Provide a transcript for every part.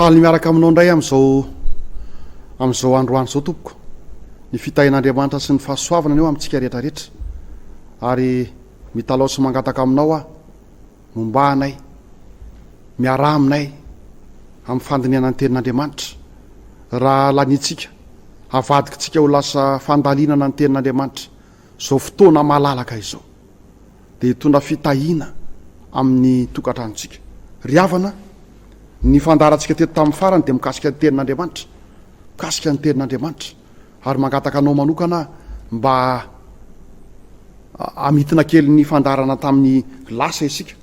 Faly ny miaraka aminao indray amin'izao amin'izao androany izao tompoko. Ny fitahian'Andriamanitra sy ny fahasoavana ny eo amintsika rehetra rehetra. Ary mitalaho sy mangataka aminao aho, momba anay, miaraha aminay amin'ny fandinihana ny tenin'Andriamanitra. Raha laniantsika, avadikintsika ho lasa fandalinana ny tenin'Andriamanitra izao fotoana malalaka izao. dia hitondra fitahiana amin'ny tokantranontsika. Ry havana, ny fandaharantsika teto tamin'ny farany dia mikasika ny Tenin'Andriamanitra. Mikasika ny Tenin'Andriamanitra. Ary mangataka anao manokana aho mba hamintina kely ny fandaharana tamin'ny lasa isika.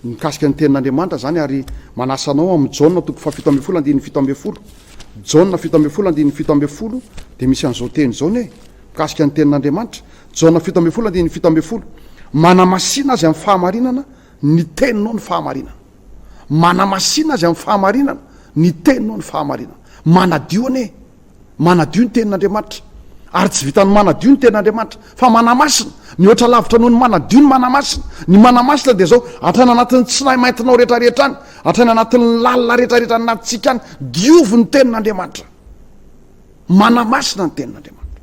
Mikasika ny Tenin'Andriamanitra izany ary manasa anao amin'ny Jaona toko fahafito ambin'ny folo andininy fito ambin'ny folo. Jaona fito ambin'ny folo andininy fito ambin'ny folo dia misy an'izao teny izao ny hoe mikasika ny Tenin'Andriamanitra. Jaona fito ambin'ny folo andininy fito ambin'ny folo. Manamasina azy amin'ny fahamarinana ny Teninao ny fahamarinana. Manamasina azy amin'ny fahamarinana ny Teninao ny fahamarinana. Manadio anie Manadio ny Tenin'Andriamanitra. Ary tsy vitan'ny manadio ny Tenin'Andriamanitra, fa manamasina. Mihoatra lavitra noho ny manadio ny manamasina. Ny manamasina dia izao, hatrany anatin'ny tsinahy maintinao rehetrarehetra any, hatrany anatin'ny lalina rehetrarehetra any anatintsika any, diovy ny Tenin'Andriamanitra. Manamasina ny Tenin'Andriamanitra.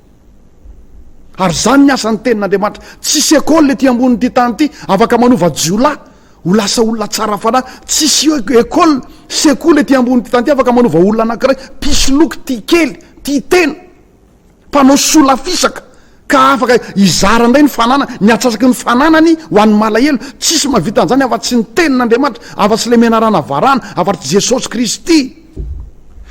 Ary izany ny asan'ny Tenin'Andriamanitra. Tsisy école ety ambonin'ity tany ity afaka manova jiolahy ho lasa olona tsara fanahy. Tsisy école, sekoly ety ambonin'ity tany ity afaka manova olona anankiray mpisoloky, tia kely, tia tena, mpanao sola fisaka ka afaka hizara indray ny fananany, ny atsasaky ny fananany ho an'ny malahelo. Tsisy mahavita an'izany afa-tsy ny Tenin'Andriamanitra, afa-tsy ilay menarana varahana, afa-tsy Jesosy Kristy.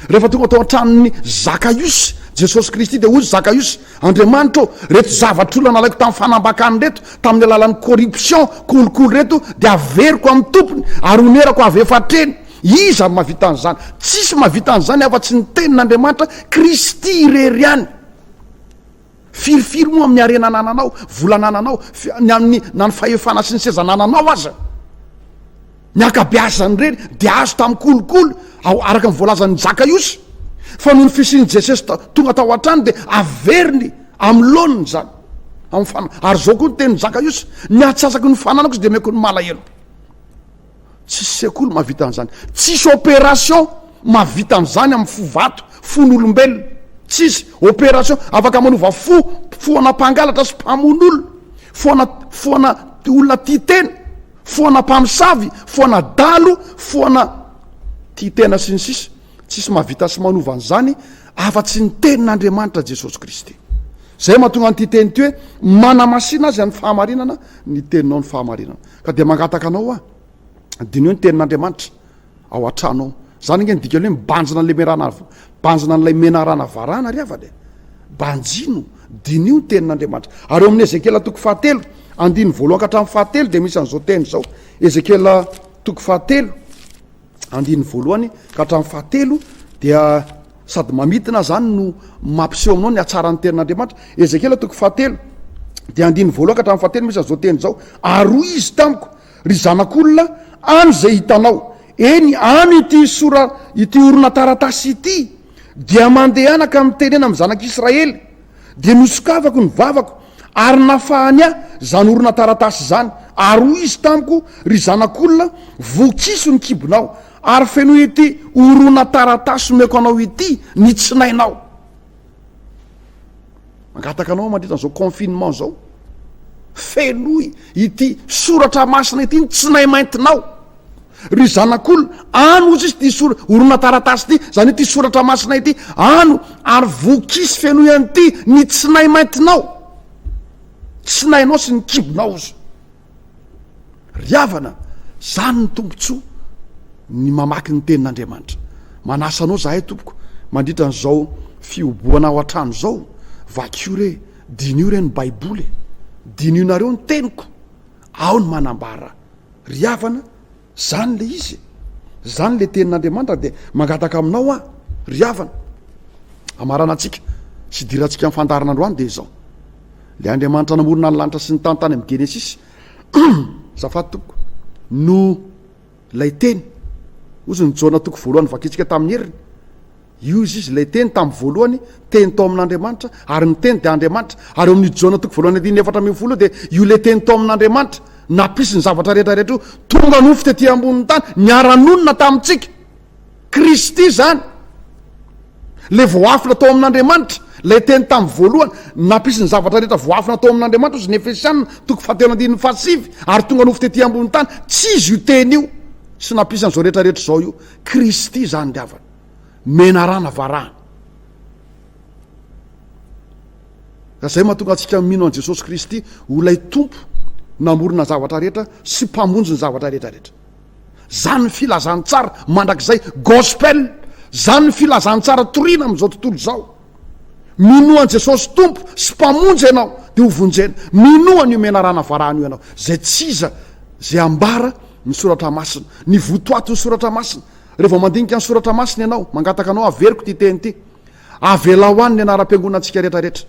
Rehefa tonga tao an-tranon'i Zakaiosy, Jesosy Kristy dia hoy izy, Zakaiosy, Andriamanitra ô, reto zavatr'olona nalaiko tamin'ny fanambakany reto, tamin'ny alalan'ny corruption, kolikoly reto dia averiko amin'ny tompony ary honerako avy efa hatreny. Iza no mahavita an'izany? Tsisy mahavita an'izany afa-tsy ny Tenin'Andriamanitra, Kristy irery ihany. Firy firy moa amin'ny harena anananao, vola anananao, ny amin'ny na ny fahefana sy ny seza anananao aza, ny ankabeazany ireny dia azo tamin'ny kolikoly ao araka ny voalazan'ny Jakayosy fa noho ny fisian'i Jesosy tonga tao an-trano dia averiny amin'ny laoniny izany amin'ny fana ary izao koa ny tenin'i Jakayosy ny atsasaky ny fananako izy dia omeko ny malahelo. Tsisy sekoly mahavita an'izany. Tsisy opération mahavita an'izany amin'ny fo vato, fon'olombelona. Tsisy opération afaka manova fo, fo ana mpangalatra sy mpamono olona, fo ana fo ana olona tia tena, fo ana mpamosavy, fo ana dalo, fo ana tia tena sy ny sisa. Tsisy mahavita sy manova an'izany afa tsy ny tenin'Andriamanitra Jesosy Kristy. Izay mahatonga an'ity teny ity hoe, manamasina azy amin'ny fahamarinana ny teninao ny fahamarinana. Ka dia mangataka anao aho, diniho ny tenin'Andriamanitra ao an-trano ao. Izany ange ny dikan'ny hoe mibanjina an'ilay menarana, banjina an'ilay menarana varahana ry havana e! Banjino, diniho ny tenin'Andriamanitra. Ary ao amin'ny Ezekiela toko fahatelo, andininy voalohany ka hatramin'ny fahatelo dia misy an'izao teny izao, Ezekiela toko fahatelo, andininy voalohany ka hatramin'ny fahatelo dia sady mamitina zany no mampiseho aminao ny hatsaran'ny tenin'andriamanitra ezekiela toko fahatelo de andininy voalohany ka hatramin'ny fahatelo misy an'izao teny zao aroa izy tamiko ry zanak'olona any zay hitanao eny any ity sora ity orona taratasy ity dia mandehanaka mitenena amin'ny zanak'israely de nosokafako ny vavako Ary nafahany ahy izany horonantaratasy izany, ary hoy izy tamiko, Ry zanak'olona, vokiso ny kibonao, ary fenoy ity horonantaratasy omeko anao ity ny tsinainao. Mangataka anao aho mandritra an'izao confinement izao, fenoy ity soratra masina ity ny tsinay maintinao. Ry zanak'olona, ano hozy izy ity sora, horonantaratasy ity, izany hoe ity soratra masina ity, ano ary voky sy fenoy an'ity ny tsinay maintinao, tsinainao sy ny kibonao hozy. Ry havana, izany ny tombontsoa ny mamaky ny tenin'Andriamanitra. Manasa anao izahay tompoko mandritra an'izao fihobohana ao an-trano izao, vakio re, diniho re ny Baiboly e, diniho nareo ny teniko, aho no manambara Ry havana, zany le izy e! Zany le tenin'Andriamanitra dia mangataka aminao aho ry havana. Hamaranantsika sy hidirantsika amin'ny fandaharana androany dia izao. Le Andriamanitra namorona ny lanitra sy ny tany tany amin'ny Genesisy. Zafady tompoko, no lay teny. Ozy ny Jaona toko voalohany vakitsika tamin'ny heriny. Io izy izy ilay teny tamin'ny voalohany, teny tao amin'Andriamanitra, ary ny teny dia Andriamanitra, ary eo amin'ny Jaona toko voalohany andininy efatra ambin'ny folo io dia io ilay teny tao amin'Andriamanitra, nampisy ny zavatra rehetra rehetra io, tonga nofo tety ambonin'ny tany, niara-nonina tamintsika. Kristy izany. Ilay voafina tao amin'Andriamanitra, ilay teny tamin'ny voalohany, nampisy ny zavatra rehetra voafina tao amin'Andriamanitra hozy ny Efesiana toko fahatelo andininy fahasivy, ary tonga nofo tety ambonin'ny tany, tsy izy io teny io, sy nampisy an'izao rehetra rehetra izao io. Kristy izany ry havana. menarana varahana ka zay mahatonga antsika mino an'i Jesosy Kristy ho ilay Tompo namorona ny zavatra rehetra sy mpamonjy ny zavatra rehetra rehetra zany ny filazantsara mandrakizay gospel zany ny filazantsara torina amin'izao tontolo izao minoa an'i Jesosy Tompo sy mpamonjy ianao dia ho vonjena minoa an'io menarana varahana io ianao zay tsy iza zay ambara ny soratra masina ny votoatin'ny soratra masina Re vao mandinika ny soratra masina ianao, mangataka anao averiko ity teny ity. Avelao any ny anaram-piangonantsika rehetrarehetra.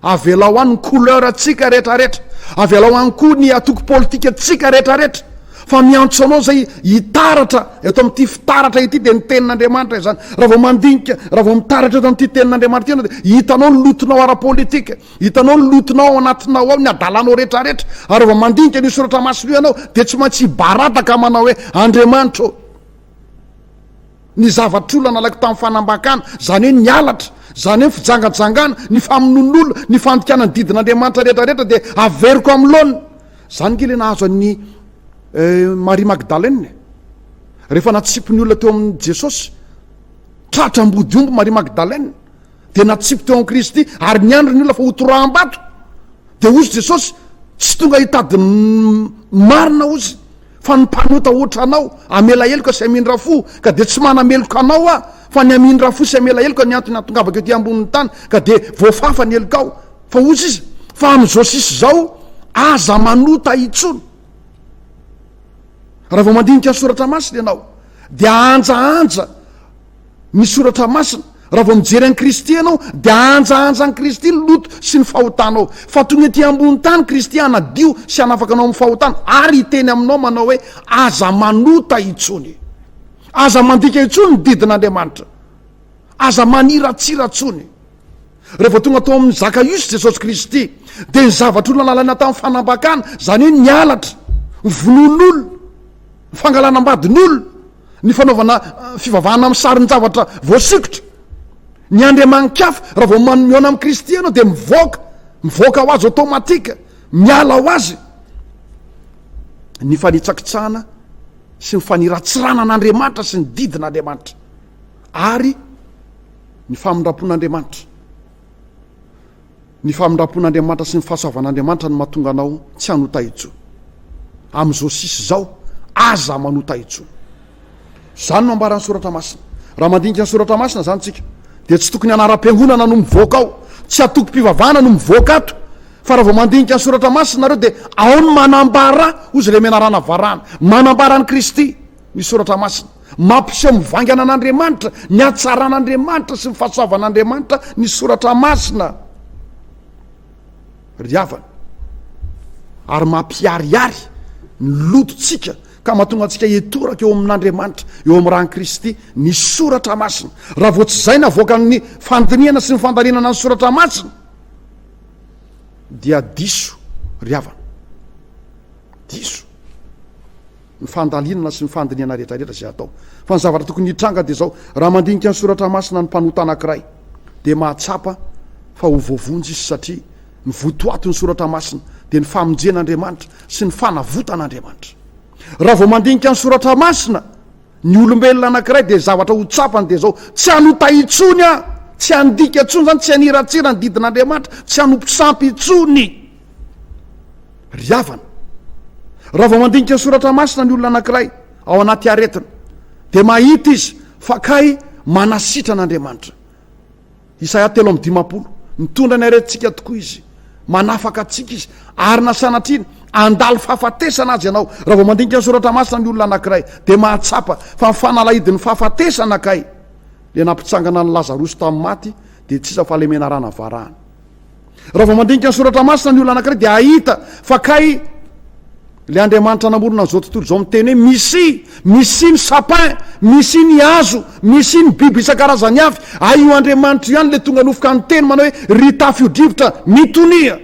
Avelao any ny couleur antsika rehetrarehetra. Avelao any koa ny atoko politika antsika rehetrarehetra. Fa miantso anao izay hitaratra eto amin'ity fitaratra ity dia ny tenin'Andriamanitra izany. Raha vao mandinika, raha vao mitaratra eto amin'ity tenin'Andriamanitra ity ianao dia hitanao ny lotonao ara-politika. Hitanao ny lotonao ao anatinao ao, ny adalanao rehetrarehetra. Ary raha vao mandinika an'io soratra masina io ianao, dia tsy maintsy hibaradaka manao hoe, Andriamanitra ô, ny zavatr'olona nalaiko tamin'ny fanambakana, izany hoe ny halatra, izany hoe ny fijangajangana, ny famonoan'olona, ny fandikana ny didin'Andriamanitra rehetrarehetra, dia averiko amin'ny laoniny. Izany ange ilay nahazo an'i Maria Magdalena e. Rehefa natsipy ny olona teo amin'i Jesosy, tratra ambodiomby Maria Magdalena. dia natsipy teo amin'i Kristy ary niandry ny olona fa hotoraham-bato. Dia hozy Jesosy, tsy tonga hitady marina hozy, fa ny mpanota hoatra anao, amela heloka sy amindra fo, ka dia tsy manameloka anao aho, fa ny amindra fo sy amela heloka ny antony atongavako ety ambonin'ny tany, ka dia voafafa ny helokao. Fa hozy izy, fa amin'izao sisa izao, aza manota intsony. Raha vao mandinika ny soratra masina ianao, dia anjaanja, ny soratra masina. Raha vao mijery an'i Kristy ianao dia ahanjahanja an'i Kristy ny loto sy ny fahotanao. Fa tonga ety ambony tany Kristy hanadio sy hanafaka anao amin'ny fahotana ary hiteny aminao manao hoe, Aza manota intsony. Aza mandika intsony ny didin'Andriamanitra. Aza maniratsira intsony. Raha vao tonga tao amin'ny Zakaiosy Jesosy Kristy dia ny zavatra olona nalaina tamin'ny fanambakana, izany hoe ny halatra, ny vonoan'olona, ny fangalana ambadin'olona, ny fanaovana fivavahana amin'ny sarin-javatra voasikotra. Ny andriamani-kafa, raha vao manomihona amin'i Kristy ianao dia mivoaka, mivoaka ho azy automatique, miala ho azy ny fanitsakitsahana sy ny faniratsirana an'Andriamanitra sy ny didin'Andriamanitra ary ny famindram-pon'Andriamanitra. Ny famindrampon'Andriamanitra sy ny fahasoavan'Andriamanitra no mahatonga anao tsy hanota intsony. Amin'izao sisa izao, aza manota intsony. Izany no ambaran'ny Soratra Masina. Raha mandinika ny Soratra Masina izany isika, dia tsy tokony anaram-piangonana no mivoaka ao, tsy antokom-pivavahana no mivoaka ato, fa raha vao mandinika ny Soratra Masina ianareo dia ao ny manambara, hoy izay lehimenarana varahana, manambara an'i Kristy. Ny Soratra Masina. Mampiseho mivaingana an'Andriamanitra, ny hatsaran'Andriamanitra sy ny fahasoavan'Andriamanitra ny Soratra Masina, ry havana, ary mampiharihary ny lotontsika ka mahatonga antsika hitoraka eo amin'Andriamanitra, eo amin'ny ran'i Kristy, ny Soratra Masina. Raha vao tsy izay na avoakan'ny fandinihana sy ny fandalinana ny Soratra Masina dia diso, ry havana. Diso. ny fandalinana sy ny fandinihana rehetrarehetra izay atao. Fa ny zavatra tokony hitranga dia izao, raha mandinika ny soratra masina ny mpanota anankiray, dia mahatsapa fa ho voavonjy izy satria ny votoatin'ny soratra masina dia ny famonjen'Andriamanitra sy ny fanavotan'Andriamanitra. Raha vao mandinika ny soratra masina ny olombelona anankiray dia ny zavatra ho tsapany dia izao, tsy hanota intsony aho, tsy handika intsony izany, tsy haniratsira ny didin'Andriamanitra, tsy hanompo sampy intsony. Ry havana, raha vao mandinika ny soratra masina ny olona anankiray ao anaty aretina, dia mahita izy fa kay manasitrana Andriamanitra. Isaia telo amin'ny dimampolo, mitondra ny aretintsika tokoa izy, manafaka antsika izy, ary na sanatriana handalo fahafatesana azy ianao, raha vao mandinika ny soratra masina ny olona anankiray, dia mahatsapa fa ny fanalahidin'ny fahafatesana kay, ilay nampitsangana an'i Lazarosy tamin'ny maty, dia tsy iza fa ilay menarana varahana. Raha vao mandinika ny soratra masina ny olona anankiray dia hahita fa kay le Andriamanitra namorona an'izao tontolo izao miteny hoe misy misy ny sapin, misy ny hazo, misy ny biby isan-karazany avy. Ay io Andriamanitra ihany le tonga nofika niteny manao hoe ry tafio-drivotra mitonia.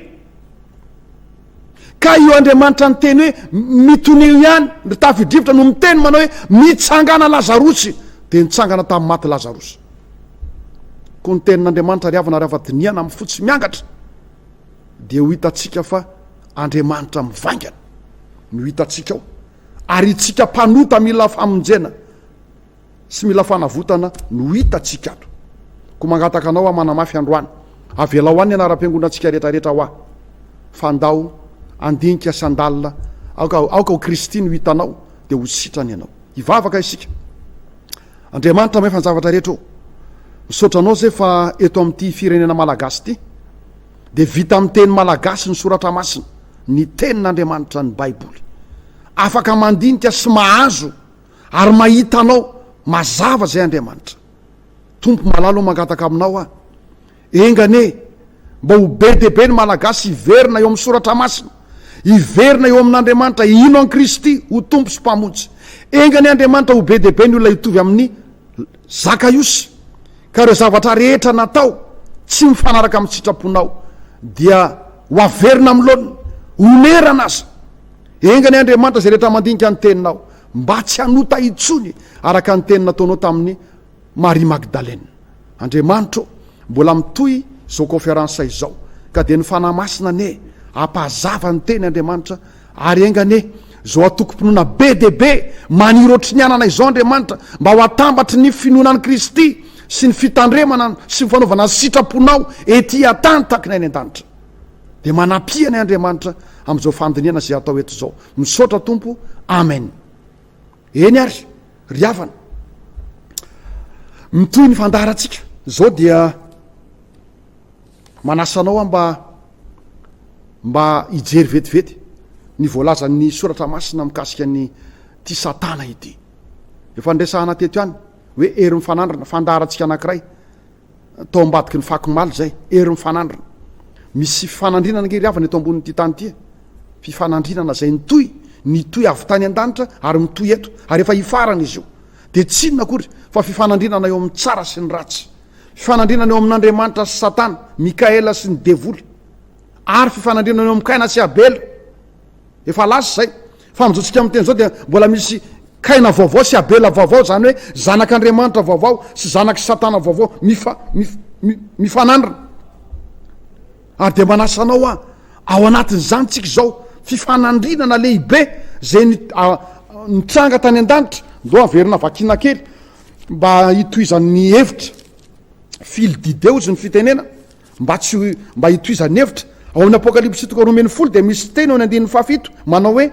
Ka io Andriamanitra niteny hoe mitonio ihany ry tafio-drivotra no miteny manao hoe mitsangana Lazarosy dia nitsangana tamin'ny maty Lazarosy. Koa ny tenin'Andriamanitra ry havana rafa dinihana amin'ny fo tsy miangatra dia ho hitantsika fa Andriamanitra mivaingana no hitantsika ao ary itsika mpanota mila famonjena sy mila fanavotana no hitantsika ato. Koa mangataka anao aho manamafy androany, avelao any ny anaram-piangonantsika rehetrarehetra hoa fa ndao andinika sy andalina aoka aoka ho Kristy no hitanao dia ho sitrana ianao. Hivavaka isika. Andriamanitra mahefa ny zavatra rehetra ô! Misaotra anao zay fa eto amin'ity firenena malagasy ity dia vita amin'ny teny malagasy ny soratra masina, ny tenin'Andriamanitra, ny baiboly. Afaka mandinika sy mahazo ary mahita anao mazava zay Andriamanitra. Tompo malala ô mangataka aminao aho Enga anie mba ho be dia be ny Malagasy hiverina eo amin'ny Soratra Masina, hiverina eo amin'Andriamanitra, hino an'i Kristy ho Tompo sy Mpamonjy. Enga anie Andriamanitra ho be dia be ny olona hitovy amin'ny Zakaiosy, ka ireo zavatra rehetra natao tsy mifanaraka amin'ny sitraponao dia ho averina amin'ny laoniny, onerana aza. Enga anie Andriamanitra izay rehetra mandinika ny Teninao mba tsy hanota intsony araka ny teny nataonao tamin'ny Maria Magdalena. Andriamanitra ô, mbola mitohy izao kaonferansa izao, ka dia ny Fanahy Masina anie hampahazava ny Teny Andriamanitra, ary enga anie izao atokom-pinoana be dia be maniry ohatry ny anana izao Andriamanitra, mba ho atambatry ny finoana an'i Kristy sy ny fitandremana sy ny fanaovana ny sitraponao ety an-tany tahaka ny any an-danitra. Dia manampianay Andriamanitra amin'izao fandinihana izay atao eto izao. Misaotra Tompo. Amen. Eny ary ry havana, mitohy ny fandaharantsika. Izao dia manasa anao aho mba mba hijery vetivety ny voalazan'ny soratra masina mikasika ny ity Satana ity. Efa niresahana teto ihany hoe hery mifanandrina, fandaharantsika anankiray. Tao ambadiky ny fako maly izay, hery mifanandrina. Misy fifanandrinana ange ry havana eto ambonin'ity tany ity e. Fifanandrinana izay nitohy, nitohy avy tany an-danitra ary mitohy eto, ary efa hifarana izy io. Dia tsy inona akory fa fifanandrinana eo amin'ny tsara sy ny ratsy. Fifanandrinana eo amin'Andriamanitra sy Satana, Mikaela sy ny devoly. Ary fifanandrinana eo amin'i Kaina sy Abela. Efa lasa izay. Fa amin'izao tsika miteny izao dia mbola misy Kaina vaovao sy Abela vaovao, izany hoe zanak'Andriamanitra vaovao sy zanak'i Satana vaovao mifa, mif, mi, mifanandrina. Ary dia manasa anao hoa ao anatin'izany tsika izao fifanandrinana lehibe izay ny, a, nitranga tany an-danitra. Ndao averina vakina kely mba hitohizan'ny hevitra. Fil d'idée hozy ny fitenena. Mba tsy ho mba hitohizan'ny hevitra, ao amin'ny Apokalypsy toko roa ambin'ny folo dia misy teny ao amin'ny andininy fahafito manao hoe,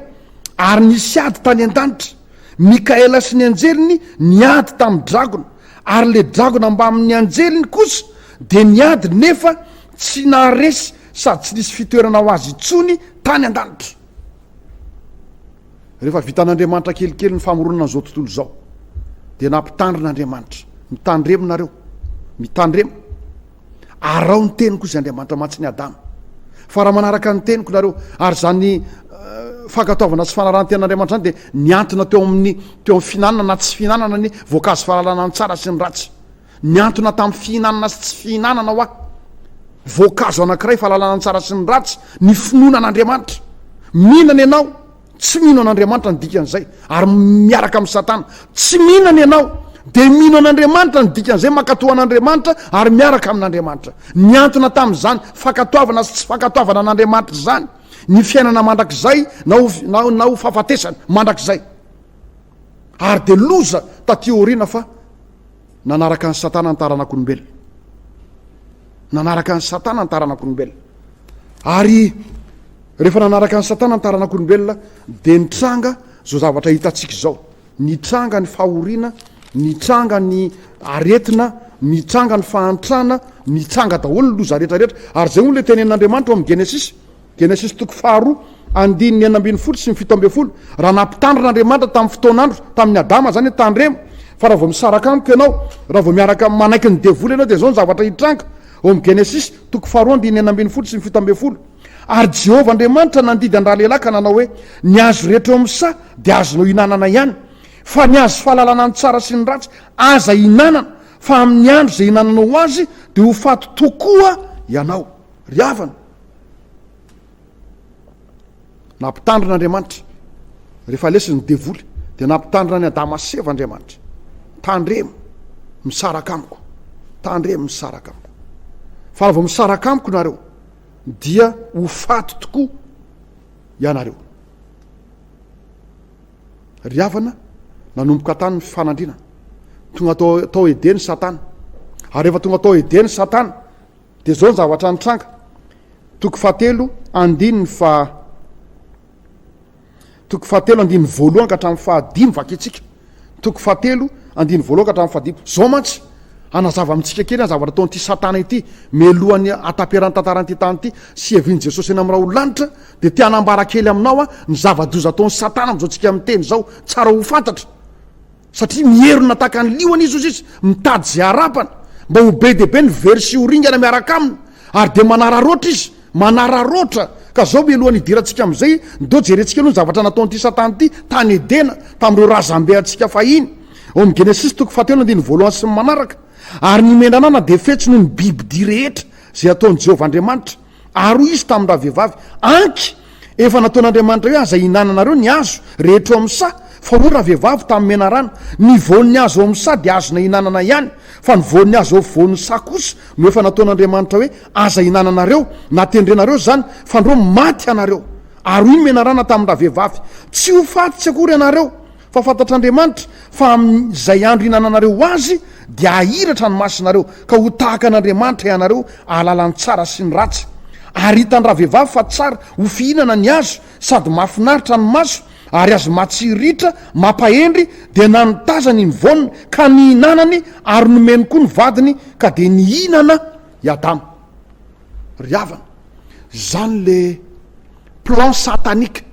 Ary nisy ady tany an-danitra, Mikaela sy ny anjeliny niady tamin'ny dragona, ary ilay dragona mbamin'ny anjeliny kosa dia niady nefa tsy naharesy sady tsy nisy fitoerana ho azy intsony tany an-danitra. Rehefa vitan'Andriamanitra kelikely ny famoronana an'izao tontolo izao, dia nampitandrina Andriamanitra, Mitandrema nareo, mitandrema. Araho ny teniko, hoy Andriamanitra aman-tsiny Adama, fa raha manaraka ny teniko nareo, ary izany fankatoavana sy fanarahan-ten'Andriamanitra izany dia niantona teo amin'ny teo amin'ny fihinanana na tsy fihinanana ny voankazo fahalalana ny tsara sy ny ratsy. Niantona tamin'ny fihinanana sy tsy fihinanana hoa voankazo anankiray fahalalana ny tsara sy ny ratsy ny finoana an'Andriamanitra. Mihinana ianao Tsy mino an'Andriamanitra ny dikan'izay, ary miaraka amin'i Satana. Tsy mino ny anao, dia mino an'Andriamanitra ny dikan'izay, mankatoa an'Andriamanitra ary miaraka amin'Andriamanitra. Niantona tamin'izany fankatoavana sy tsy fankatoavana an'Andriamanitra izany ny fiainana mandrakizay na ho, na, na ho fahafatesana mandrakizay. Ary dia loza taty aoriana fa nanaraka an'i Satana ny taranak'olombelona. Nanaraka an'i Satana ny taranak'olombelona. Ary rehefa nanaraka an'i Satana ny taranak'olombelona, dia nitranga izao zavatra hitantsika izao. Nitranga ny fahoriana, nitranga ny aretina, nitranga ny fahantrana, nitranga daholo ny loza rehetra rehetra. Ary izay hono ilay tenen'Andriamanitra ao amin'ny Genesisy. Genesisy toko faharoa, andininy enina ambin'ny folo sy ny fito ambin'ny folo, Raha nampitandrina Andriamanitra tamin'ny fotoan'andro, tamin'i Adama izany hoe tandremo, fa raha vao misaraka amiko ianao, raha vao miaraka manaiky ny devoly ianao dia izao ny zavatra hitranga, ao amin'ny Genesisy toko faharoa andininy enina ambin'ny folo sy ny fito ambin'ny folo. Ary Jehovah Andriamanitra nandidy an-dralehilahy ka nanao hoe, Ny hazo rehetra eo amin'ny saha dia azonao ihinanana ihany, fa ny hazo fahalalana ny tsara sy ny ratsy aza hihinanana, fa amin'ny andro izay ihinananao azy dia ho faty tokoa ianao. Ry havana! Nampitandrina Andriamanitra. Rehefa lesy ny devoly, dia nampitandrina ny Adama sy Eva Andriamanitra. Tandremo misaraka amiko. Tandremo misaraka amiko. Fa raha vao misaraka amiko nareo, dia ho faty tokoa ianareo. Ry havana, nanomboka tany ny fifanandrinana. Tonga tao, tao Edeny Satana. Ary rehefa tonga tao Edeny Satana, Dia izao ny zavatra nitranga, toko fahatelo andininy fa toko fahatelo andininy voalohany ka hatramin'ny fahadimy vakintsika, toko fahatelo andininy voalohany ka hatramin'ny fahadimy. Izao mantsy, anazava amintsika kely ny zavatra ataon'ity Satana ity mialohan'ny hataperan'ny tantaran'ity tany ity sy hiavian'i Jesosy eny amin'ny raholanitra, dia te hanambara kely aminao aho ny zava-doza ataon'i Satana amin'izao tsika miteny izao, tsara ho fantatra. Satria mierona tahaka ny liona izy, hoy izy, mitady izay harapany, mba ho be dia be ny very sy ho ringana miaraka aminy, ary dia manararoatra izy, manararoatra, ka izao mialohan'ny hidirantsika amin'izay, ndao jerentsika aloha ny zavatra nataon'ity Satana ity tany Edena, tamin'ireo razambe antsika fahiny, ao amin'ny Genesisy toko fahatelo andininy voalohany sy ny manaraka, Ary ny menanana dia fetsy noho ny bibidia rehetra izay ataon'i Jehovah Andriamanitra. Ary hoy izy tamin-dravehivavy, Anky! efa nataon'Andriamanitra hoe aza ihinananareo ny hazo rehetra eo amin'ny saha, fa hoy ravehivavy tamin'ny menarana, Ny voan'ny hazo eo amin'ny saha dia azonay ihinanana ihany, fa ny voan'ny hazo eo afovoan'ny saha kosa no efa nataon'Andriamanitra hoe aza ihinananareo, na tendrenareo izany, fandroa maty ianareo. Ary hoy ny menarana tamin-dravehivavy, Tsy ho faty tsy akory ianareo. Fa fantatr'Andriamanitra fa amin' izay andro ihinananareo azy dia hahiratra ny masinareo, ka ho tahaka an' Andriamanitra hianareo, hahalala ny tsara sy ny ratsy. Ary hitan-dravehivavy fa tsara ho fihinana ny azo, sady mahafinaritra ny maso, ary azo matsiriritra, mampahendry, dia nanotazany i Nvone ka nihinanany, ary nomeny koa ny vadiny, ka dia nihinana i Adama. Ry havana, izany le. Plan satanique.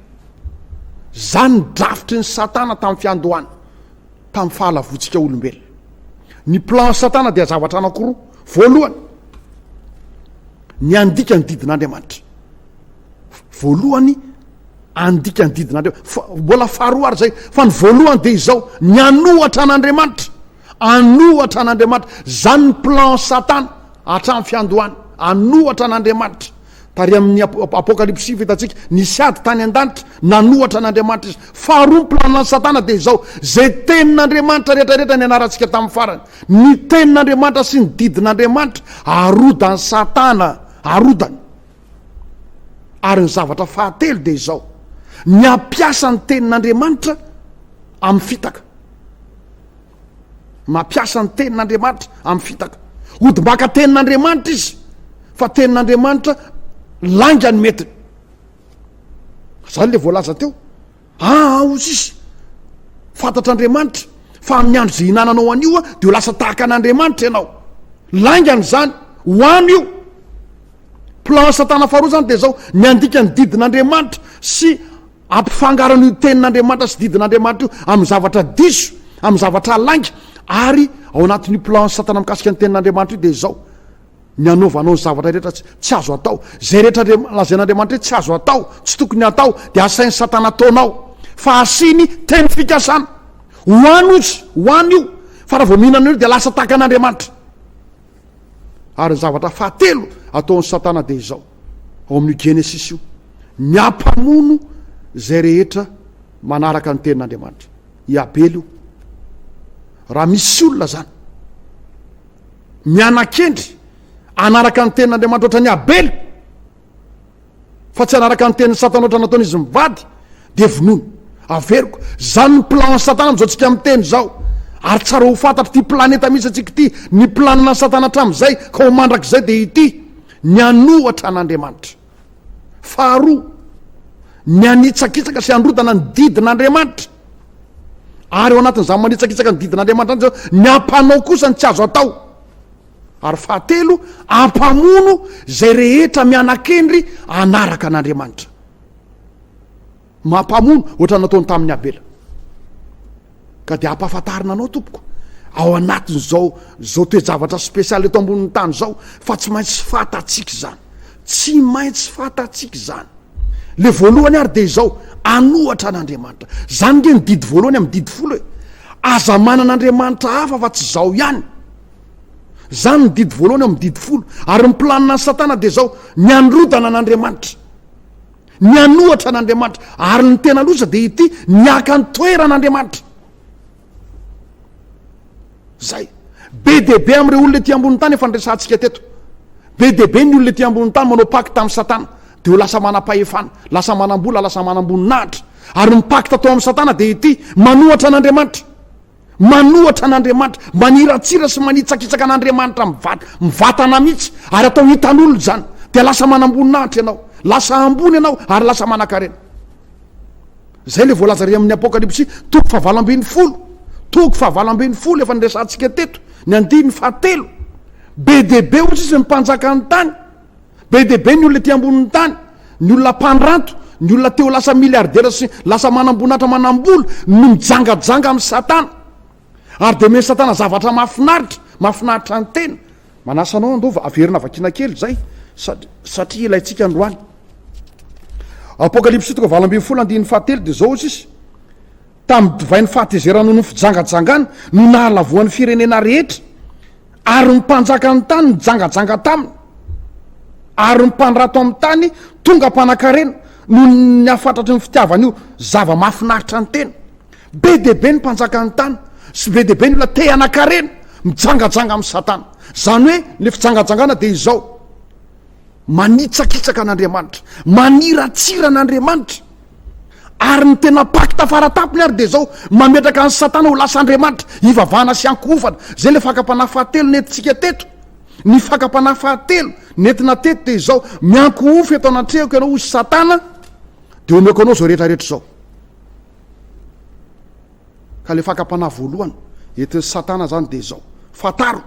Izany ny drafitry ny satana tamin'ny fiandohana, tamin'ny fahalavoantsika olombelona. Ny plan satana dia zavatra anankiroa, voalohany, ny handika ny didin'Andriamanitra. Voalohany, handika ny didin'Andriamanitra. Mbola faharoa ary izay, fa ny voalohany dia izao, ny hanohatra an'Andriamanitra. Hanohatra an'Andriamanitra. Izany ny plan satana, hatramin'ny fiandohana. Hanohatra an'Andriamanitra. Tary amin'ny Apokalypsy sivy hitantsika ny sady tany an-danitra nanohatra an'Andriamanitra izy. Faharoa ny planan'i Satana dia izao, izay tenin'Andriamanitra rehetrarehetra nianarantsika tamin'ny farany, ny tenin'Andriamanitra sy ny didin'Andriamanitra, arodan'i Satana, arodany. Ary ny zavatra fahatelo dia izao, ny hampiasa ny tenin'Andriamanitra amin'ny fitaka. Mampiasa ny Tenin'Andriamanitra amin'ny fitaka. Hodimbaka Tenin'Andriamanitra izy, fa Tenin'Andriamanitra lainga ny metiny. Izany ilay voalaza teo. Aa, hozy izy, fantatr'Andriamanitra fa amin'ny andro izay hinananao an'io dia ho lasa tahaka an'Andriamanitra ianao. Laingany izany, ho any io. Plan Satana faharoa izany dia izao, ny handika ny didin'Andriamanitra sy Ampifangaroana io tenin'Andriamanitra sy didin'Andriamanitra io amin'ny zavatra diso, amin'ny zavatra lainga, ary ao anatin'io plan-n'i Satana mikasika ny tenin'Andriamanitra io dia izao ny anaovanao ny zavatra rehetra tsy azo atao. Izay rehetra lazain'Andriamanitra hoe tsy azo atao, tsy tokony hatao, dia asain'i Satana ataonao, fa asiany teny fikasana. Ho any ozy, ho any io, fa raha vao mihinana an'io dia lasa tahaka an'Andriamanitra. Ary ny zavatra fahatelo ataon'i Satana dia izao, ao amin'io Genesisy io, ny hampamono izay rehetra manaraka ny tenin'Andriamanitra. I Abely io. Raha misy olona zany miana-kendry anaraka ny tenin'Andriamanitra ohatran'i Abely, fa tsy hanaraka ny tenin'i satana ohatra nataony izy mivady dia vonono averiko zany ny plan an'i satana amin'izao tsika miteny izao ary tsara ho fantatro ity planeta misy antsika ity ny planina ny satana hatramin'izay ka ho mandrakizay dia ity ny hanohatra an'andriamanitra faharoa ny hanitsakitsaka sy handrotana ny didin'andriamanitra ary eo anatin'izany manitsakitsaka ny didin'andriamanitra any zao ny ampanao kosa ny tsy azo atao Ary fahatelo, ampamono izay rehetra miana-kendry hanaraka an'Andriamanitra. Mampamono, ohatrany nataony tamin'i Abela. Ka dia ampahafantarina anao tompoko, ao anatin'izao izao toe-javatra spécial eto ambonin'ny tany izao, fa tsy maintsy fantatsika izany. Tsy maintsy fantatsika izany. Le voalohany ary dia izao, anohatra an'Andriamanitra. Izany nge ny didy voalohany amin'ny didy folo e. Aza manana Andriamanitra hafa afa-tsy izaho ihany. Izany ny didy voalohany ao amin'ny didy folo. Ary ny planina an'i Satana dia izao, ny hanorodana an'Andriamanitra, ny hanohatra an'Andriamanitra. Ary ny tena loza dia ity, ny haka ny toeran'Andriamanitra. Izay. Be dia be amin'ireo olona ety ambonin'ny tany efa niresahantsika teto. Be dia be ny olona ety ambonin'ny tany manao pakta amin'i Satana, dia ho lasa manam-pahefana, lasa manam-bola, lasa manam-boninahitra. Ary ny pakta atao amin'i Satana dia ity, manohatra an'Andriamanitra. Manohatra an'Andriamanitra, maniratsira sy manitsakitsaka an'Andriamanitra mivatana mihitsy, ary atao hitan'olona izany, dia lasa manamboninahitra ianao, lasa ambony ianao ary lasa manankarena. Izay ilay voalaza ary amin'ny Apokalypsy toko fahavalo ambin'ny folo, toko fahavalo ambin'ny folo efa niresahantsika teto, ny andininy fahatelo. Be dia be hoy izy ny mpanjakan'ny tany. Be dia be ny olona ety ambonin'ny tany, ny olona mpandranto, ny olona te ho lasa miliaridera sy lasa manamboninahitra manambola no mijangajanga amin'i Satana. Ary dia omen'i Satana zavatra mahafinaritra, mahafinaritra ny tena. Manasa anao handova, averina vakiana kely izay satria ilaintsika androany. Apokalypsy toko valo ambin'ny folo andininy fahatelo dia izao hoy izy, Tamin'ny divay ny fahatezeranao no fijangajangana no nahalavoan'ny firenena rehetra, ary ny mpanjakan'ny tany nijangajanga taminy, ary ny mpandrato amin'ny tany tonga mpanakarena noho ny hafatratry ny fitiavany io zava-mahafinaritra ny tena. Be dia be ny mpanjakan'ny tany sy be dia be ny olona te hanakarena mijangajanga amin'i Satana. Izany hoe ny fijangajangana dia izao. Manitsakitsaka an'Andriamanitra, maniratsira an'Andriamanitra. Ary ny tena pacte fara tampony ary dia izao, mametraka an'i Satana ho lasa andriamanitra, hivavahana sy hankohofana. Izay ilay fakam-panahy fahatelo nentintsika teto. Ny fakam-panahy fahatelo nentina teto dia izao, miankohofo eto anatrehako ianao, hoy Satana, dia omeko anao izao rehetra rehetra izao. Ka le fakam-panahy voalohany entin'i satana zany de zao, fantaro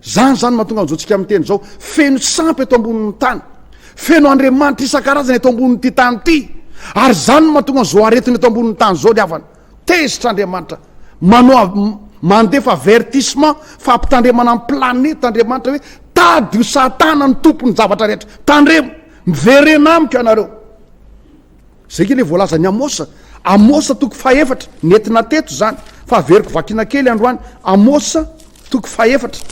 zany zany mahatonga an'zao tsika miteny zao, feno sampy eto ambonin'ny tany, feno andriamanitra isan-karazany eto ambonin'ity tany ity, ary zany no mahatonga an'zao aretina eto ambonin'ny tany zao le havana, tezitra andriamanitra, manoa mandefa avertissement fampitandremana ny planeta andriamanitra hoe tady io satana ny tompon'ny zavatra rehetra, tandremo, miverena amiko ianareo. Izay kay ilay voalazan'i Amôsa. Amôsa toko fahefatra, nentina teto izany, fa averiko vakina kely androany. Amôsa toko fahefatra,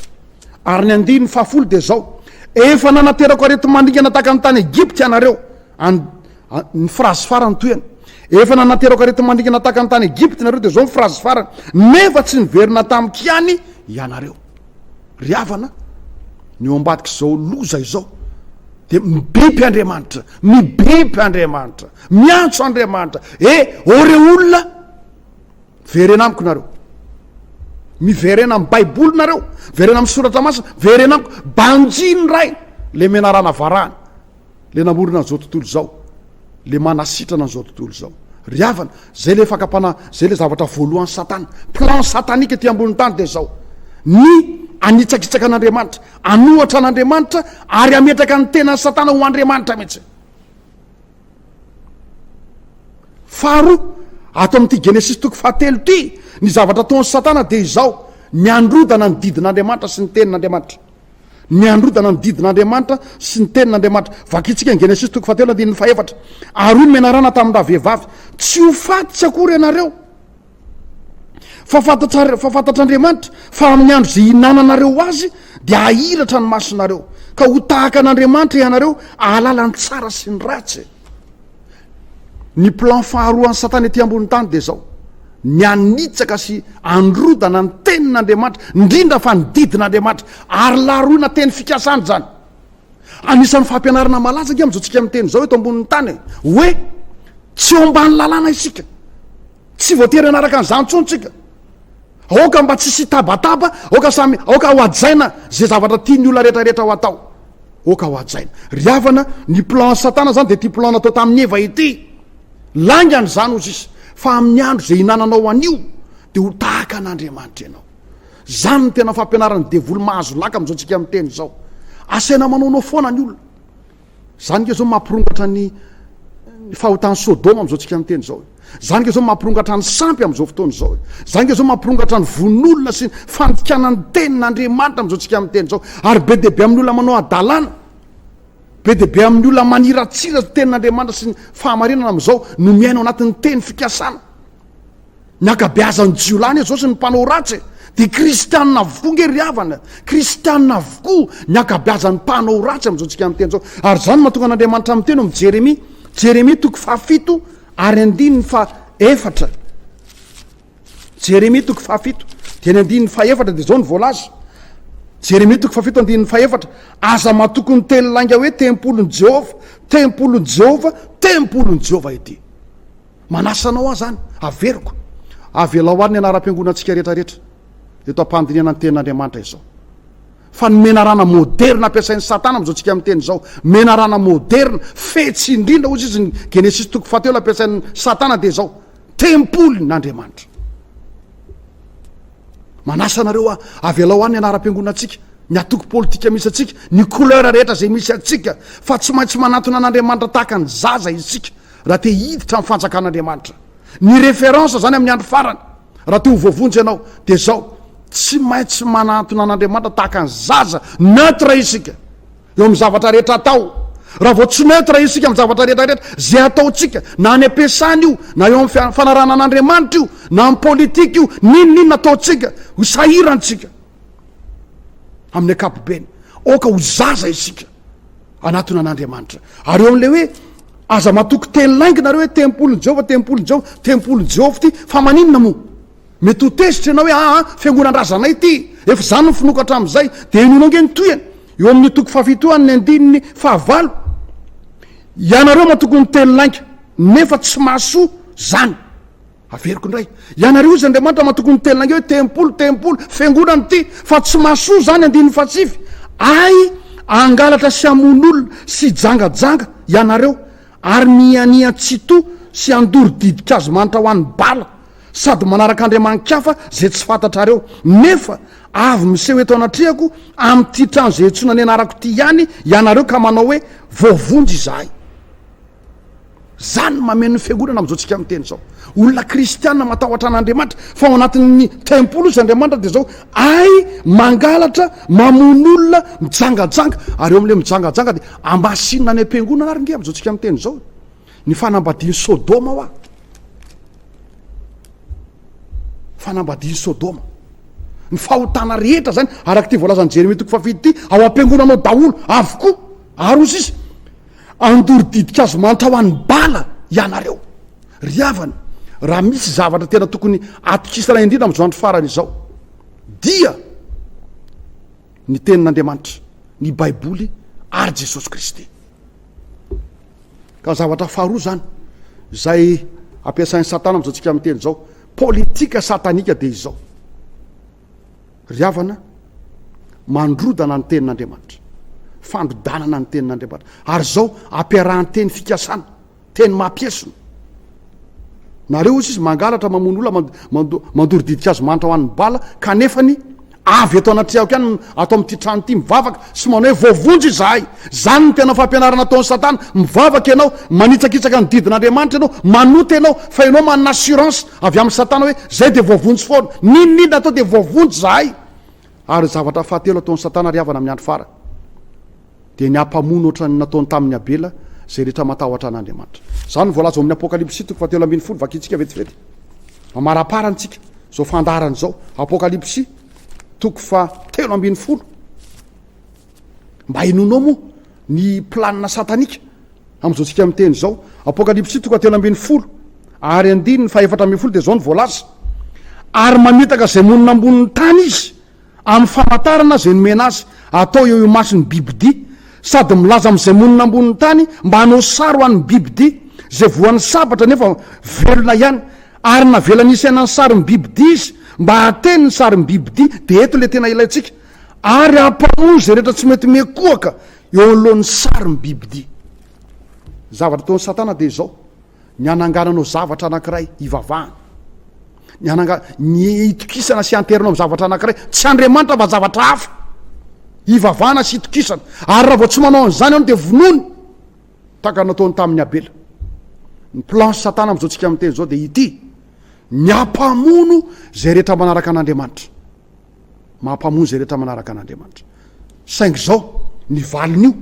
ary ny andininy fahafolo dia izao, Efa nanaterako areti-mandringana tahaka ny tany Egypta ianareo, and. Ny frazy farany toy an. Efa nanaterako areti-mandringana tahaka ny tany Egypta ianareo, dia izao ny frazy farany, Nefa tsy niverina tamiko ihany ianareo. Ry havana, ny eo ambadik'izao loza izao dia mibeby Andriamanitra, mibeby Andriamanitra, miantso Andriamanitra. E, ô reo olona, miverena amiko nareo. Miverena amin'ny Baiboly nareo, miverena amin'ny soratra masina, miverena amiko. Banjino ray, le menarana varahana. le namorona an'izao tontolo izao, le manasitrana an'izao tontolo izao. Ry havana, zay le fakam-panahy, zay le zavatra voalohan'i Satana. Plan satanique ety ambonin'ny tany dia izao. Ny hanitsakitsaka an'Andriamanitra, hanohatra an'Andriamanitra ary hametraka ny tenan'i Satana ho Andriamanitra mihitsy. Faharoa, ato amin'ity Genesis toko fahatelo ity, ny zavatra ataon'i Satana dia izao, ny androdana ny didin'Andriamanitra sy ny tenin'Andriamanitra. ny hanorodana ny didin'Andriamanitra sy ny tenin'Andriamanitra. Vakintsika ny Genesisy toko fahatelo andininy fahefatra. Ary hoy ny menarana tamin'ny ravehivavy, tsy ho faty tsy akory ianareo, fa fantatra fa fantatr'Andriamanitra fa amin'ny andro izay hinananareo azy dia hahiratra ny masonareo, ka ho tahaka an'Andriamanitra ianareo, ahalala ny tsara sy ny ratsy. Ny plan faharoan'i Satana ety ambonin'ny tany dia izao, ny hanitsaka sy handrodana ny Tenin'Andriamanitra, indrindra fa ny didin'Andriamanitra, ary laroina teny fikasany izany. Anisan'ny fampianarana malaza ange amin'izao tsika miteny izao eto ambonin'ny tany hoe tsy eo ambany lalàna isika, tsy voatery hanaraka an'izany intsony tsika. Aoka mba tsy hisy tabataba, aoka samy aoka hohajaina izay zavatra tian'ny olona rehetra rehetra ho atao. Oh ka ho hajaina. Ry havana, ny plan an'i Satana izany dia ity plan natao tamin'i Eva ity. Laingany izany hoy sisa. Fa amin'ny andro izay hinananao an'io, dia ho tahaka an'Andriamanitra ianao. Izany no tena fampianaran'ny devoly mahazo laka amin'izao tsika miteny izao. Asaina manaonao foana ny olona. Izany ange izao mampirongatra ny ny fahotan'i Sodoma amin'izao tsika miteny izao. Izany nga izao mampirongatra ny sampy amin'izao fotoana izao e. Izany nga izao mampirongatra ny vononolona sy ny fandikana ny tenin'Andriamanitra amin'izao tsika amin'ny teny izao. Ary be dia be amin'ny olona manao adalana, be dia be amin'ny olona maniratsira ny tenin'Andriamanitra sy ny fahamarinana amin'izao no miaina ao anatin'ny teny fikasana. Ny ankabeazan'ny jiolahy anie izao sy ny mpanao ratsy e. Dia kristianina avokoa nge ry havana, kristianina avokoa ny ankabeazan'ny mpanao ratsy amin'izao tsika amin'ny teny izao. Ary izany no mahatonga an'Andriamanitra miteny ao amin'ny Jeremia, Jeremia toko fahafito Ary andininy faha efatra, Jeremia toko faha fito dia ny andininy faha efatra dia izao no voalaza, Jeremia toko faha fito andininy faha efatra, aza matoky ny teny lainga hoe tempolin'i Jehovah, tempolin'i Jehovah, tempolin'i Jehovah ity. Manasa anao aho izany, averiko. Avelao àry ny anaram-piangonantsika rehetrarehetra eto am-pandinihana ny tenin'Andriamanitra izao. Fa ny menarana môderina ampiasain'i Satana amin'izao tsika miteny izao, menarana môderina, fetsy indrindra, hoy izy ny Genesisy toko fahatelo ampiasain'i Satana dia izao, Tempolin'Andriamanitra. Manasa anareo aho, avelao ahy ny anaram-piangonantsika, ny antoko politika misy antsika, ny couleur rehetra izay misy antsika, fa tsy maintsy manantona an'Andriamanitra tahaka ny zaza isika, raha te hiditra amin'ny fanjakan'Andriamanitra. Ny référence zany amin'ny andro farany raha te ho voavonjy ianao dia zao, tsy maintsy manantona an'Andriamanitra tahaka ny zaza, neutre isika eo amin'ny zavatra rehetra atao. Raha vao tsy neutre isika amin'ny zavatra rehetra rehetra, ze ataontsika na any am-piasana io, na eo amin'ny fanarahana an'Andriamanitra io, na amin'ny politika io, n'inona n'inona ataontsika, ho sahirantsika amin'ny ankapobeny. Aoka ho zaza isika. Anatona an'Andriamanitra. Ary eo amin'ilay hoe aza matoky teny lainga nareo hoe tempolin'i Jehovah, tempolin'i Jehovah, tempolin'i Jehovah ity, fa maninona moa? Mety ho tezitra ianao hoe aa ah, ah, fiangonan-drazanay ity, efa izany no finoako hatramin'izay, dia inoana ange ny tohiny. Eo amin'ny toko fahafito an'ny andininy fahavalo, ianareo matoky ny teny lainga, nefa tsy mahasoa izany. Averiko indray, ianareo izy Andriamanitra matoky ny tenanareo hoe tempoly, tempoly, fiangonana ity, fa tsy mahasoa izany andininy fahasivy, ay, hangalatra sy hamono olona sy hijangajanga ianareo ary mihianiha tsitoha sy handoro didik'hazomanitra ho an'i Bala sady manaraka andriamanin-kafa izay tsy fantatrareo, nefa avy miseho eto anatrehako amin'ity trano izay antsoina ny anarako ity ihany ianareo ka manao hoe voavonjy izahay. Zany mameno ny fiangonana amizao tsika miteny zao olona kristiana matahotra an'Andriamanitra fa ao anatin'ny tempoly izy Andriamanitra de zao ay mangalatra mamono olona mijangajanga ary eo amle mijangajanga de ambasinina any am-piangonana ary nge amizao tsika miteny zao ny fanambadian'i Sodoma wa fanambadian'i Sodoma ny fahotana rehetra zany araka ty voalazan'i Jeremia toko fahafito ty ao am-piangonanao daholo avokoa ary ozy izy Andoro ditin-kazo mantra ho an'ny bala ianareo. Ry havana, raha misy zavatra tena tokony atokisana indrindra amin'izao andro farany izao, dia ny Tenin'Andriamanitra, ny Baiboly ary Jesosy Kristy. Ka zavatra faharoa izany, izay ampiasain'i Satana amin'izao tsika miteny izao, politika satanika dia izao. Ry havana, mandrodana ny Tenin'Andriamanitra, fandrodanana ny Tenin'Andriamanitra, ary izao ampiarahan-teny fikasana, teny mampiesona. Nareo hoy izy, mangalatra, mamono olona, mando, mandoro didink'azo manitra ho an'ny bala, kanefa ny avy eto anatrehako ihany, ato amin'ity trano ity, mivavaka sy manao hoe voavonjy izahay. Izany no tena fampianarana ataon'i Satana. Mivavaka ianao, manitsakitsaka ny didin'Andriamanitra ianao, manota ianao, fa ianao manana assurance avy amin'i Satana hoe izay dia voavonjy foana. N'inon'inona atao dia voavonjy izahay. Ary ny zavatra fahatelo ataon'i Satana ry havana amin'ny andro farany dia ny hampamono ohatran'ny nataony tamin'i Abela izay rehetra matahotra an'Andriamanitra. Izany no voalaza ao amin'ny Apokalypsy toko fahatelo ambin'ny folo, vakintsika vetivety. Mamarapara antsika izao fandaharana izao, Apokalypsy toko fahatelo ambin'ny folo. Mba henoinao moa ny planina satanika amin'izao tsika miteny izao. Apokalypsy toko telo ambin'ny folo ary andininy fahefatra ambin'ny folo dia izao no voalaza. Ary mamitaka izay monina ambonin'ny tany izy amin'ny famantarana izay nomena azy atao eo imason'ny bibidia, sady milaza amin'izay monina ambonin'ny tany mba hanao sary ho an'ny bibidia izay voan'ny sabatra nefa velona ihany. Ary navelany hisaina ny sarin'ny bibidia izy mba hahateny ny sarin'ny bibidia. Dia eto ilay tena ilaintsika. ary hampanohy izay rehetra tsy mety miankohaka eo anoloan'ny sarin'ny bibidia. Ny zavatra ataon'i Satana dia izao, ny hanangananao zavatra anankiray hivavahana, ny hananga- ny hitokisana sy hanterina amin'ny zavatra anankiray tsy Andriamanitra fa zavatra hafa hivavahana sy hitokisana, ary raha vao tsy manao an'izany ianao dia vonoiny, tahaka ny nataony tamin'i Abela. Ny plan'i Satana amin'izao tsika miteny izao dia ity, ny hampamono izay rehetra manaraka an'Andriamanitra. Mampamono izay rehetra manaraka an'Andriamanitra. Saingy izao ny valin'io,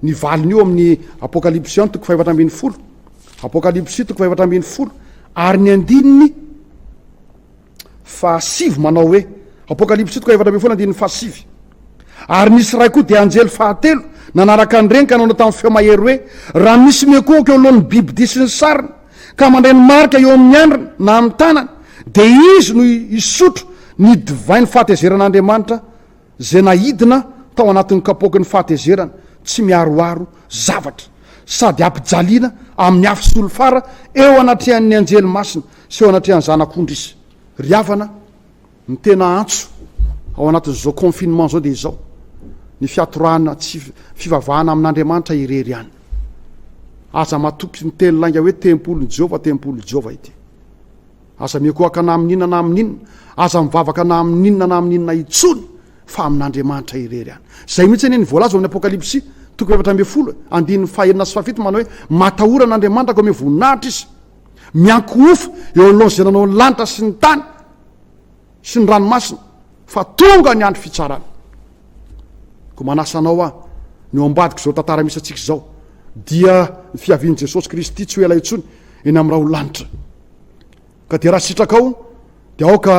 ny valin'io amin'ny Apokalypsy an toko fahefatra ambin'ny folo, Apokalypsy toko fahefatra ambin'ny folo ary ny andininy fahasivy manao hoe, Apokalypsy toko fahefatra ambin'ny folo andininy fahasivy. Ary nisy iray koa dia anjely fahatelo nanaraka an'ireny ka nanao tamin'ny feo mahery hoe, Raha misy miankohoka eo anoloan'ny bibidia sy ny sariny, ka mandray ny marika eo amin'ny andriny na amin'ny tanany, dia izy no hisotro ny divain'ny fahatezeran'Andriamanitra izay naidina tao anatin'ny kapoaky ny fahatezerany tsy miaroaro zavatra, sady hampijaliana amin'ny afo solifara eo anatrehan'ny anjely masina sy eo anatrehan'ny Zanak'ondry izy. Ry havana, Ny tena antso ao anatin'izao confinement izao dia izao, ny fiatorahana tsy fivavahana amin'Andriamanitra irery ihany. Aza matoky ny teny lainga hoe tempolin'i Jehovah, tempolin'i Jehovah ity. Aza mihokohaka na amin'inona na amin'inona, aza mivavaka na amin'inona na amin'inona intsony fa amin'Andriamanitra irery ihany. Izay mihitsy anie ny voalaza ao amin'ny Apokalypsy toko efatra ambin'ny folo, andininy fahenina sy fahafito manao hoe, Matahora an'Andriamanitra ka omeo voninahitra izy. miankohofa eo anoloan'ny izay nanao ny lanitra sy ny tany sy ny ranomasina fa tonga ny andro fitsarana ko manasa anao aho ny eo ambadiko izao tantara misy antsika izao dia ny fiavian'i jesosy kristy tsy ho ela intsony eny amin'nyrah ho lanitra ka dia raha sitrakao dia aoka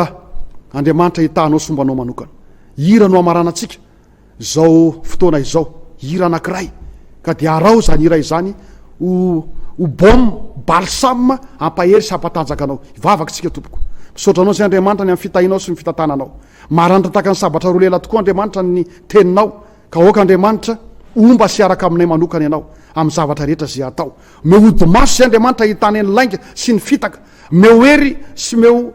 andriamanitra hitahanao sombanao manokana hira no hamarana antsika Izao fotoana izao hira anankiray ka dia araho izany hira izany ho ho baume balsame hampahery sy hampatanjaka anao hivavaka isika tompoko misaotra anao izay Andriamanitra ny amin'ny fitahianao sy ny fitantananao maranitra tahaka ny sabatra roa lela tokoa Andriamanitra ny teninao ka aoka Andriamanitra homba sy hiaraka aminay manokana ianao amin'ny zavatra rehetra izay atao meo odimaso izay Andriamanitra hitana ny lainga sy ny fitaka meo hery sy meo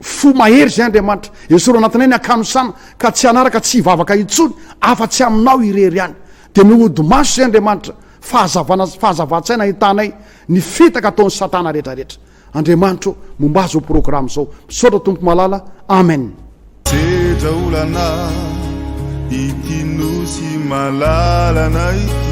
Fo mahery izay Andriamanitra. Esorina anatinay ny hakanosana ka tsy hanaraka tsy hivavaka intsony afa tsy aminao irery ihany. Dia mihodo maso izay Andriamanitra, fahazavana sy fahazavan-tsaina ahitanay ny fitaka ataon'i satana retraretra. Andriamanitra ô, momba azy io programa izao. Misaotra Tompo malala. Amen. Sedra olana ity nosy malalana ity.